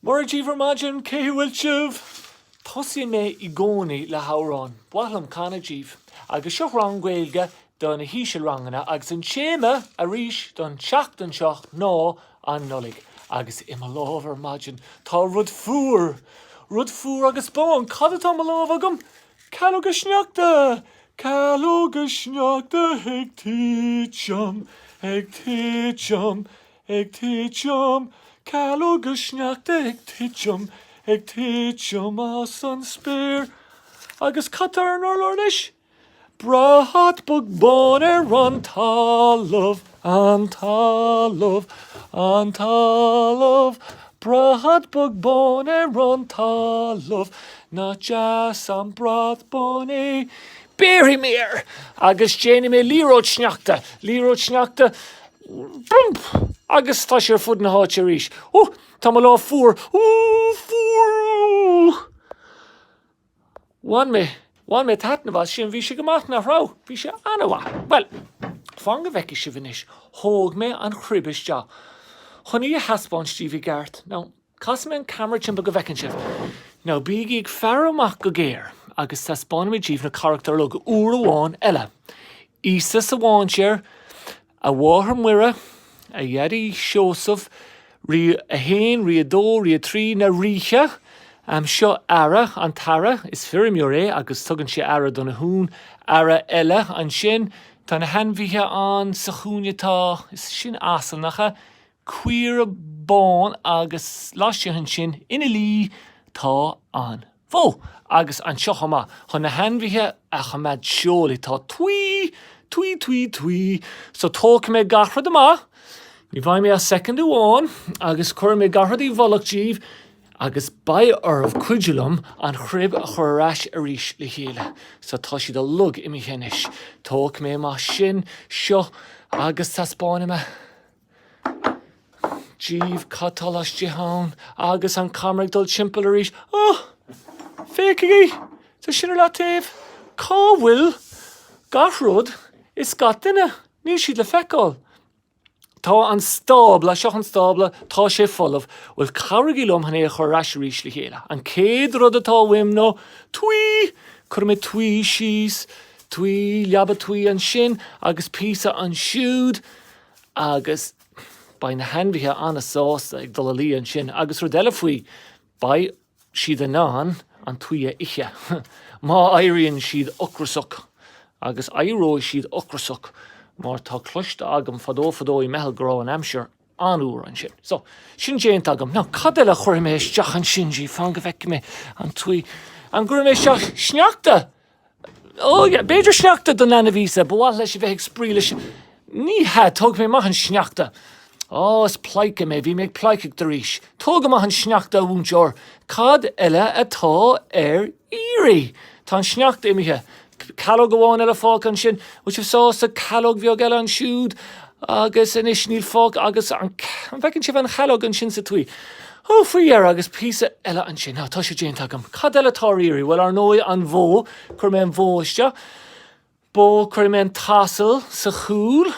Mora daoibh ar maidin, cén chaoi a bhfuil sibh? Tosaíonn mé i gcónaí le hamhrán. Ba mhaith liom canadh daoibh. Agus seo rang Gaeilge do na hísealranganna agus an téama arís don tseachtain seo ná an Nollaig. Agus i mo lámh ar maidin tá rud fuar. Rud fuar agus bán. Cad atá i mo lámh agam? Calóga sneachta! Calóga sneachta ag titim, ag titim. ag titim, Calóga sneachta ag titim, ag titim as an spéir. Agus cad tá ar an urlár anois? Brat bog bán ar an talamh, an talamh, an talamh, Brat bog bán ar an talamh, nach deas an brat bán é. Béarfaidh mé air agus déanfaidh mé liathróid sneachta, liathróid sneachta, Bump! Agus tá sé ar fud na háite arís. Hú! Tá mo lámh fuar! Hú! Fuar! Bhain mé, bhain mé taitneamh as sin, bhí sé go maith, nach raibh? Bhí sé an-mhaith. Bhuel, fan go bhfeicfidh sibh anois, thóg mé an chruib isteach chun í a theaspáint daoibh i gceart. Now, Casfaidh mé an ceamara timpeall go bhfeiceann sibh. Now bígí ag faire amach go géar agus taispeánfaidh mé daoibh na carachtair uilig uair amháin eile. Íosa sa mhainséar, A Mháthair Muire, A Dhaidí Seosamh, Rí 1, Rí 2, Rí 3, Na Ríthe! Seo aoire, an t-aoire, is feirmeoir é agus tugann sé aire do na huain. Aoire eile ansin. Tá na hainmhithe ann. Sa chúinne tá, is sin asal, nach ea? caora bán agus laistigh ansin ina luí tá an bhó. Agus anseo chomh maith, chun na hainmhithe a choimeád teolaí, tá tuí, tuí, tuí, tuí. So tógfaidh mé gach rud amach, ní bheidh mé ach soicind amháin, agus cuirfidh mé gach rud i bhfolach daoibh agus beidh oraibh cuidiú liom an chruib a chur ar ais arís le chéile. So tá siad uilig imithe anois. Tógfaidh mé amach sin, seo agus taispeánfaidh mé. daoibh cad tá laistigh ann? Agus an ceamara ag dul timpeall arís. Oh! Féachaigí! Tá sin ar leataobh. Cá bhfuil gach rud is gach duine? Níl siad le feiceáil. Tá an stábla, seo an stábla, tá sé folamh. Bhuel, cabhraigí liom chun é a chur ar ais arís le chéile. An chéad rud atá uaim ná tuí! Cuirfidh mé tuí síos, tuí, leaba tuí ansin agus píosa ansiúd. agus beidh na hainmhithe an-sásta ag dul a luí ansin, agus rud eile faoi, beidh siad in ann an tuí a ithe má éiríonn siad ocrasach, agus éireoidh siad ocrasach mar tá cloiste agam fadó fadó i mBeithil go raibh an aimsir an-fhuar ansin. So, sin déanta agam. Now, cad eile a chuirfidh mé isteach ansin, Gee, fan go bhfeicfidh mé an tuí, an gcuirfidh mé isteach sneachta? Ó yeah, b'fhéidir sneachta don leanbh Íosa, ba mhaith leis a bheith ag spraoi leis, ní hea, tógfaidh mé amach an sneachta. Ó, is pleidhce mé, bhí mé ag pleidhcíocht arís. Tóg amach an sneachta, a mhúinteoir, cad eile atá ar iarraidh? Tá an sneachta imithe. Calóg amháin eile fágtha ansin, bhfuil sibh sásta? Calóg bheag eile ansiúd agus anois níl fágtha agus an bhfeiceann sibh an chalóg ansin sa tuí? Ó, faoi dheireadh, agus píosa eile ansin. Á, tá sé déanta agam. Cad eile atá ar iarraidh? Bhuel, ar ndóigh, an bhó. Chuir mé an bhó isteach. Bó, chuir mé an t-asal sa chúl.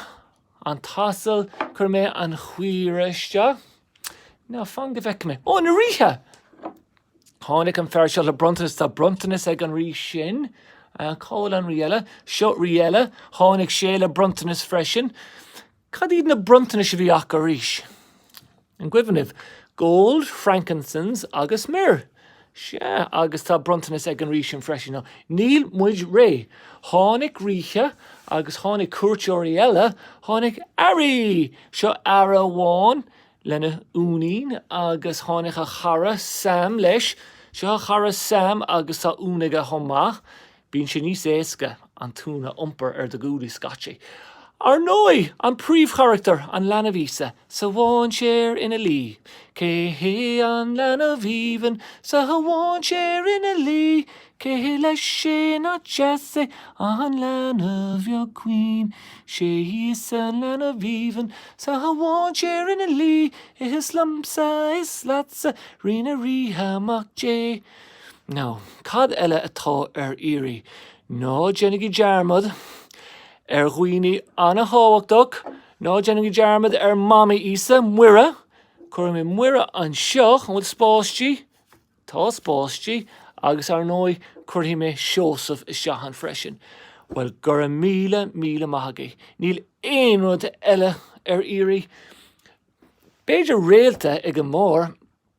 An t-asal, chuir mé an chaora isteach. Now fan go bhfeice mé. Ó, na ríthe! Tháinig an fear seo le bronntanas. Tá bronntanas ag an rí sin. Cá bhfuil an rí eile? Seo rí eile. Tháinig sé le bronntanas freisin. Cad iad na bronntanais a bhí acu arís? An gcuimhin libh? Gold, frankincense agus myrrh. Sea, agus tá bronntanas ag an rí sin freisin, now níl muid réidh. Tháinig ríthe agus tháinig cuairteoirí eile, tháinig aoirí! Seo aoire amháin lena uainín agus tháinig a chara Sam leis. Seo a chara Sam agus tá uan aige chomh maith. Bíonn sé níos éasca an t-uan a iompar ar do ghuaillí scaití. Ar ndóigh, an príomhcharachtar, an leanbh Íosa, sa mháinséar ina luí. Cé hé an leanbh aoibhinn sa mháinséar ina luí? Cé hé lena aice an bhean dheas, álainn bheag chaoin. 'Sé Íosa an leanbh aoibhinn sa mháinséar ina luí. Is liomsa, is leatsa, Rí na ríthe, Mac Dé. Now, cad eile atá ar iarraidh? Ná déanaigí dearmad ar dhaoine an-thábhachtach. Ná déanaigí dearmad ar Mhamaí Íosa, Muire. Cuirfidh mé Muire anseo. An bhfuil spás di? Tá spás di. Agus, ar ndóigh, cuirfidh mé Seosamh isteach ann freisin. Bhuel, go raibh míle, míle maith agaibh. Níl aon rud eile ar iarraidh? B'fhéidir réalta ag an mbarr.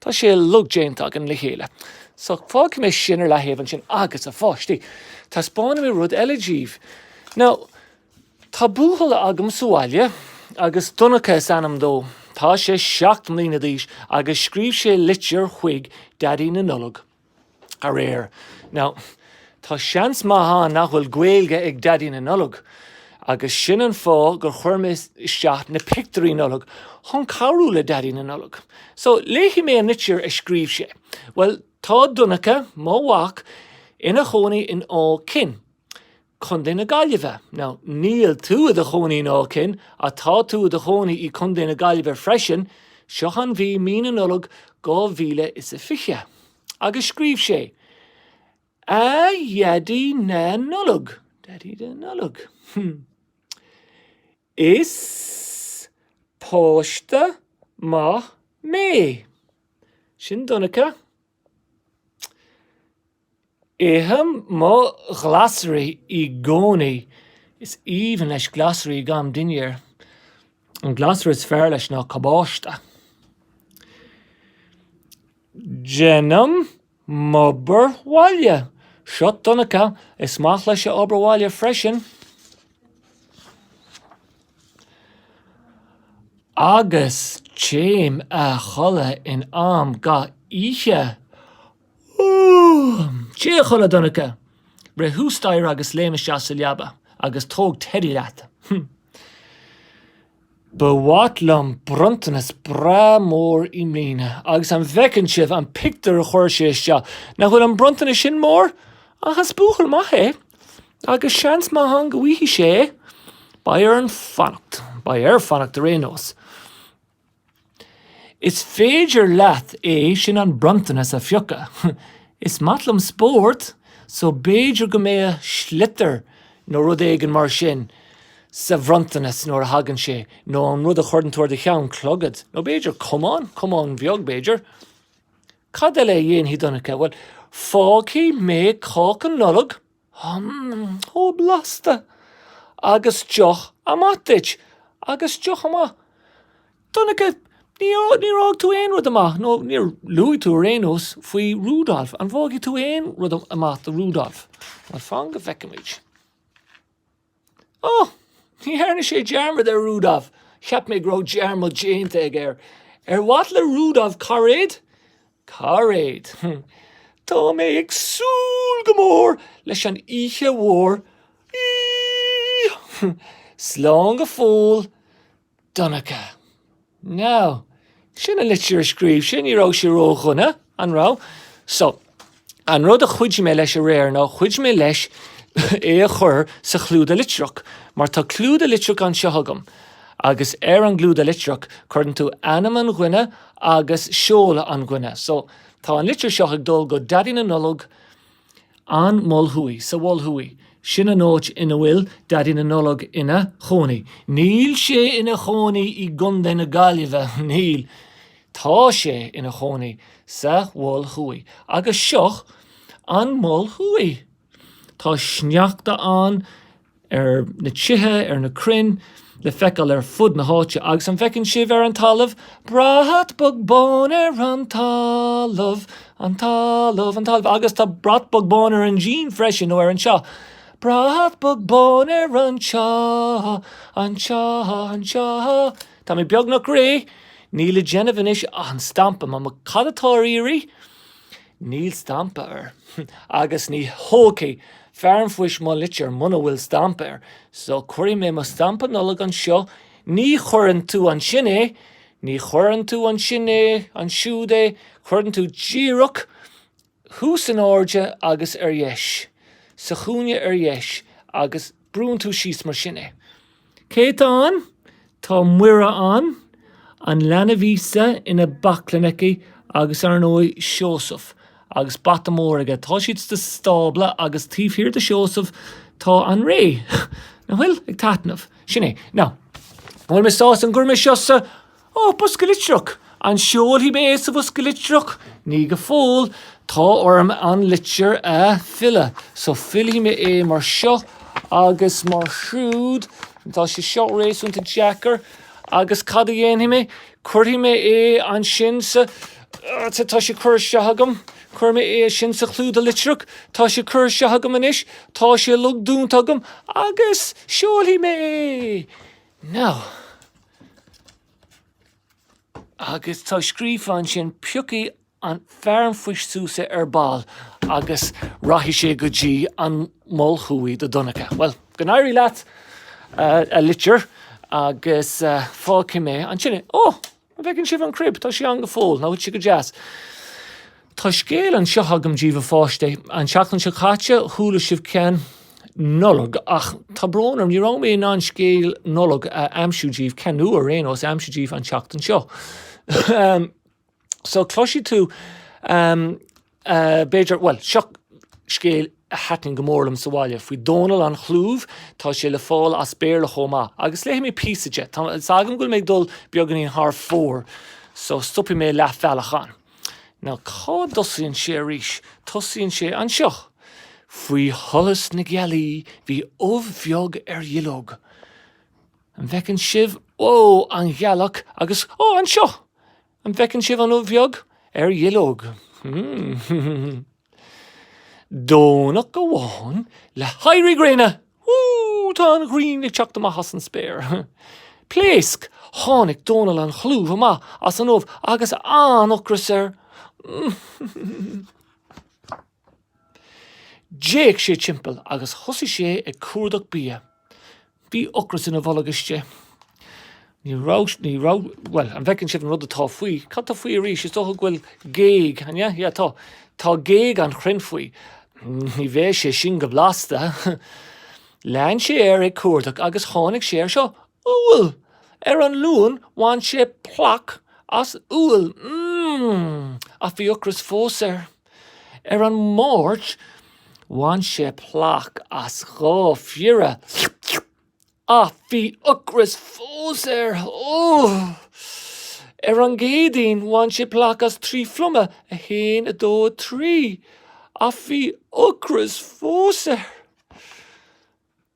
Tá sé uilig déanta againn le chéile, so fágfaidh mé sin ar leathaobh ansin agus, a pháistí, taispeánfaidh mé rud eile daoibh. Now, tá buachaill agam sa bhaile agus Donncha is ainm dó. Tá sé seacht mbliana d'aois agus scríobh sé litir chuig Daidí na Nollag. aréir. Now, tá seans maith ann nach bhfuil Gaeilge ag Daidí na Nollag, agus sin an fáth gur chuir mé isteach na pictiúirí Nollag chun cabhrú le Daidí na Nollag. So, léifidh mé an litir a scríobh sé. Bhuel, tá Donncha, mo mhac, ina chónaí in Áth Cinn. Contae na Gaillimhe. Now, níl tú i do chónaí in Áth Cinn, ach tá tú i do chónaí i Contae na Gaillimhe freisin, seo an mhí,, Mí na Nollag dhá mhíle is a fiche. Agus scríobh sé, A Dhaidí na Nollag, Daidí na Nollag, hmm. Is páiste maith mé. Sin Donncha. Ithim mo ghlasraí i gcónaí. Is aoibhinn leis glasraí don dinnéar. An glasra is fearr leis ná cabáiste. Déanaim m'obair bhaile. Seo Donncha. Is maith leis a obair bhaile freisin. Agus téim a chodladh in am gach oíche. Téigh a chodladh Donncha, rith thuas staighre agus léim isteach sa leaba agus tóg Teddy leat. Ba mhaith liom bronntanas breá mór i mbliana agus an bhfeiceann sibh an pictiúr a chuir sé isteach? Nach bhfuil an bronntanas sin mór? Ach is buachaill maith é agus seans maith ann go bhfaighidh sé é. Beidh air fanacht. Beidh air fanacht ar aon nós. Is féidir leat é sin, an bronntanas a phiocadh. Is maith liom spórt so b'fhéidir go mbeidh an sliotar nó rud éigin mar sin sa bhronntanas nuair a thagann sé, nó an rud a chuireann tú ar do cheann, clogad, nó b'fhéidir camán, camán bheag b'fhéidir. Cad eile a dhéanfaidh Donncha? Bhuel, fágfaidh mé cáca Nollag. Hum, ó blasta! Agus deoch amach duit. Agus deoch amach. Donncha, níor, níor fhág tú aon rud amach, nó níor luaigh tú ar aon nós faoi Rudolph. An bhfágfaidh tú aon rud amach do Rudolph? Bhuel, fan go bhfeicimid. Ó! Ní dhearna sé dearmad de Rudolf! Cheap mé go raibh dearmad déanta aige air. Ar mhaith le Rudolf cairéad? Cairéad! Tá mé ag súil go mór leis an oíche mhór! Slán go fóill! Donncha, Now, sin an litir a scríobh sé, ní raibh sé ró-dhona, an raibh? So, an rud a chuidigh mé leis aréir ná, chuidigh mé leis é a chur sa chlúdach litreach, mar tá clúdach litreach anseo agam, agus ar an gclúdach litreach, cuireann tú ainm an dhuine agus seoladh an dhuine. So, tá an litir seo ag dul go Daidí na Nollag. An Mol Thuaidh, Sa Mhol Thuaidh, sin an áit ina bhfuil Daidí na Nollag ina chónaí. Níl sé ina chónaí i gContae na Gaillimhe, níl. Tá sé ina chónaí sa Mhol Thuaidh. Agus seo An Mol Thuaidh. Tá sneachta ann. ar na tithe, ar na crainn le feiceáil ar fud na háite agus an bhfeiceann sibh ar an talamh brat bog bán ar an talamh, an talamh, an talamh agus tá brat bog bán ar an díon freisin nó ar an teach. Brat bog bán ar an teach, an teach, an teach. Tá mé beagnach réidh, níl le déanamh anois, an stampa, Mamó, cad atá ar iarraidh? Níl stampa air agus ní thógfaidh fear an phoist mo litir muna bhfuil stampa air, so cuirfidh mé mo stampa Nollag anseo, ní chuireann tú ansin é, ní chuireann tú ansin é, ansiúd é, cuireann tú díreach thuas in airde agus ar dheis, sa chúinne ar dheis agus. Brúnn tú síos mar sin é. Cé atá ann?, Tá Muire ann, an leanbh Íosa ina baclainn aici agus, ar ndóigh, Seosamh agus bata mór aige. Tá siad sa stábla agus taobh thiar de Sheosamh tá an réalt, nach bhfuil? ag taitneamh. Sin é. Now, an bhfuil mé sásta an gcuirfidh mé seo sa Ó Bosca Litreach, An seolfaidh mé é sa bhosca litreach? Ní go fóill. Tá orm an litir a fhilleadh. So fillfidh mé é mar seo agus mar siúd. Tá sé seo réasúnta deacair. Agus cad a dhéanfaidh mé? Cuirfidh mé é ansin sa. Tá sé curtha isteach agam. Cuirfidh mé é sin sa chlúdach litreach. Tá sé curtha isteach agam anois. Tá sé ag dúnta agam. Agus seolfaidh mé é! Now. Agus tá scríofa ansin, piocfaidh fear an phoist suas é ar ball agus rachaidh sé go dtí an Mol Thuaidh do Donncha. Bhuel, go n-éirí leat, a litir, agus fágfaidh mé ansin é. Ó! An bhfeiceann sibh an crib? Tá sí ann go fóill. Nach bhfuil sí go deas. Tá scéal anseo agam díbh, a pháistí. An tseachtain seo caite, chuala sibh ceann Nollag, ach tá brón orm, ní raibh mé in ann scéal Nollag a aimsiú díbh, ceann nua ar aon nós a aimsiú díbh an tseachtain seo. So, cloisfidh tú, b'fhéidir, bhuel, seo scéal a thaitníonn go mór liom sa bhaile, faoi Dónall an Chlúimh, tá sé le fáil as Béarla chomh maith, agus léifidh mé píosa de. Tá 'fhios agam go bhfuil mé ag dul beagáinín thar fóir, so stopfaidh mé leath bealaigh ann. Now, cá dtosaíonn sé arís? Tosaíonn sé anseo. Faoi sholas na gealaí bhí ubh bheag ar dhuilleog. An bhfeiceann sibh? Ó, an ghealach agus, ó, anseo! An bhfeiceann sibh an ubh bheag ar dhuilleog? Hmm. Domhnach amháin le héirí gréine! Woo! Tá an ghrian ag teacht amach as an spéir. Pléasc! Tháinig Dónall an Chlúimh amach as an ubh agus an-ocras air. D'fhéach sé timpeall agus thosaigh sé ag cuardach bia. Bhí ocras ina bholg istigh. Ní raibh, ní raibh, bhuel, an bhfeiceann sibh an rud atá faoi, cad tá faoi arís, is dócha go bhfuil géag, an ea? Yeah, tá, tá géag an chrainn faoi. Ní bheidh sé sin go blasta. Lean sé air ag cuardach agus tháinig sé ar seo, úll! Ar an Luan bhain sé plaic as úll. Mmm! Ach bhí ocras fós air. Ar an Máirt, bhain sé plaic as dhá phiorra ach bhí ocras fós air! Ar an gCéadaoin, bhain sé plaic as trí phluma, a haon, a dó, a trí, ach bhí ocras fós air!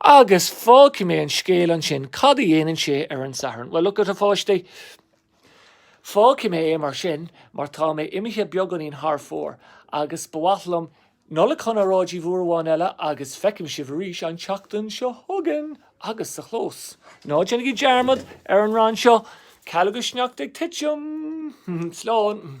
Agus fágfaidh mé an scéal ansin. Cad a dhéanann sé ar an Satharn? Bhuel, lookit, a pháistí. Fágfaidh mé é mar sin mar tá mé imithe beagáinín thar fóir agus ba mhaith liom Nollaig Shona a rá díbh uair amháin eile agus feicim sibh arís an tseachtain seo chugainn agus sa chlós. Ná déanaigí dearmad ar an rann seo, Calóga sneachta ag titim. Slán.